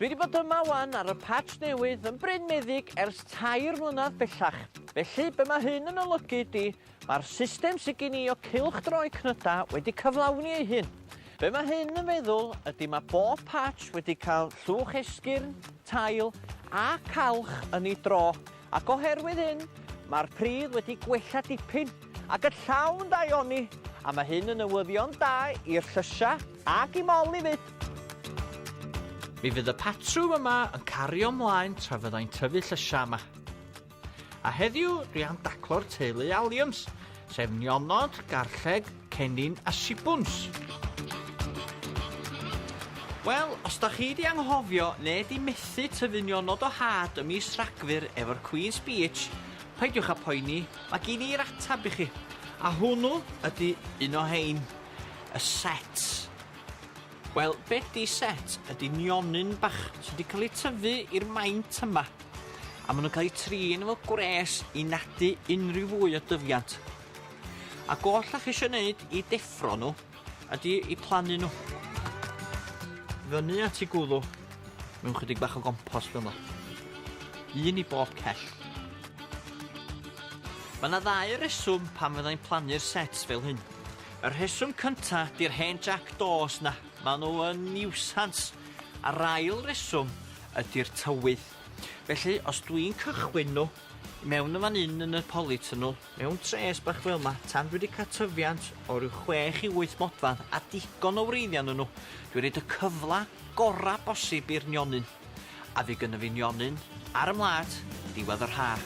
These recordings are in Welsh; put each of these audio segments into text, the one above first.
Dwi wedi bod yma wan ar y patch newydd yn Bryn Meddyg ers tair mlynedd bellach. Felly, be mae hyn yn olygu ydy, mae'r system sydd gen i o cylch droi cnyda wedi cyflawni ei hun. Be mae hyn yn feddwl ydy mae bob patch wedi cael llwch esgyrn, tail a calch yn ei dro. Ac oherwydd hyn, mae'r pridd wedi gwella dipyn, ac y llaw'n daioni, a mae hyn yn newyddion da i'r llysia ac i Molly 'fyd. Mi fydd y patrwm yma yn cario mlaen tra fyddai'n tyfu llysia yma. A heddiw, dwi am daclo'r teulu Alliams, sef nionod, garlleg, cennin a sibwns. Wel, os da chi di anghofio neu di methu tyfu nionod o had y mis Rhagfyr efo'r Queen's Beach, peidiwch a poeni, mae gen i'r atab i chi. A hwnnw ydy un o hein, y set. Wel be di set ydi nionyn bach sy 'di ca'l eu tyfu i'r maint yma a ma' nw'n ca'l eu trin efo gwres i nadu unrhyw fwy o dyfiant. A goll 'dach chi isio neud i deffro nhw ydi i plannu nhw fyny at i gwddw mewn chydig bach o gompos fel 'ma. Un i bob cell. Mae 'na ddau reswm pam fyddai'n plannu'r sets fel hyn. Y rheswm cynta, di'r hen jac dos 'na, ma' nhw yn niwsans. A'r ail reswm ydi'r tywydd. Felly, os dwi'n cychwyn nhw i mewn yn fan hyn yn y polytunnel, mewn tres bach fel 'ma, tan dwi 'di cael tyfiant o ryw chwech i wyth modfedd a digon o wreiddiau ynnyn nhw, dwi'n rhoid y cyfle gorau bosib i'r nionyn. A fi gynno fi nionyn ar 'y mlât, diwedd yr ha'.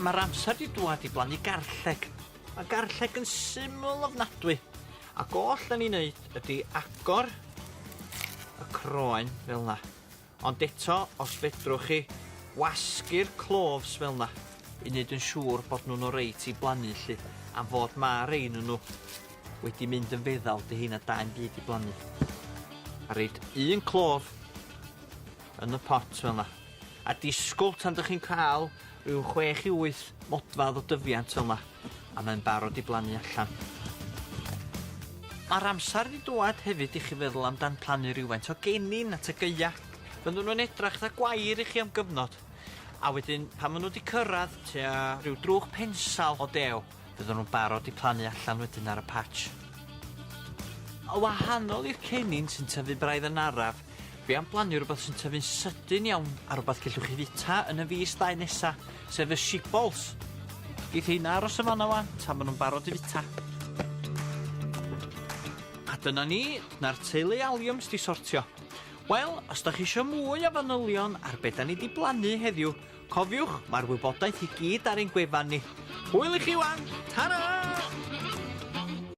Ma'r amser 'di dwad i blannu garlleg. Ma' garlleg yn syml ofnadwy, ac oll 'dan ni'n neud ydi agor y croen fel 'na. Ond eto, os fedrwch chi, wasgu'r cloves fel 'na, i neud yn siŵr bod nhw'n oreit i blannu 'lly, am fod ma' rei ynnyn nhw wedi mynd yn feddal, 'dy heina da'm byd i blannu. A reid un clove yn y pot fel 'na, a disgwl tan 'dych chi'n ca'l ryw chwech i wyth modfadd o dyfiant fel 'na. a mae'n barod i blannu allan. Mae'r amser wedi dŵad hefyd i chi feddwl amdan plannu rhywfaint o gennin at y gaea. Byddwn nhw'n edrach dda gwair i chi am gyfnod, a wedyn pan maen nhw wedi cyrraedd tua rhyw drwch pensal o dew, byddwn nhw'n barod i plannu allan wedyn ar y patch. Yn wahanol i'r cennin sy'n tyfu braidd yn araf, Fi am blannu rwbeth sy'n tyfu'n sydyn iawn a rwbeth cellwch chi fita yn y fis ddau nesa, sef y shibbolth. Geith heina aros yn fanna wan tan ma' nhw'n barod i fita. A dyna ni, dyna'r teulu aliums di sortio. Wel, os da chi isio mwy o fanylion ar be da ni di blannu heddiw, cofiwch, mae'r wybodaeth i gyd ar ein gwefan ni. Hwyl i chi wan, tara!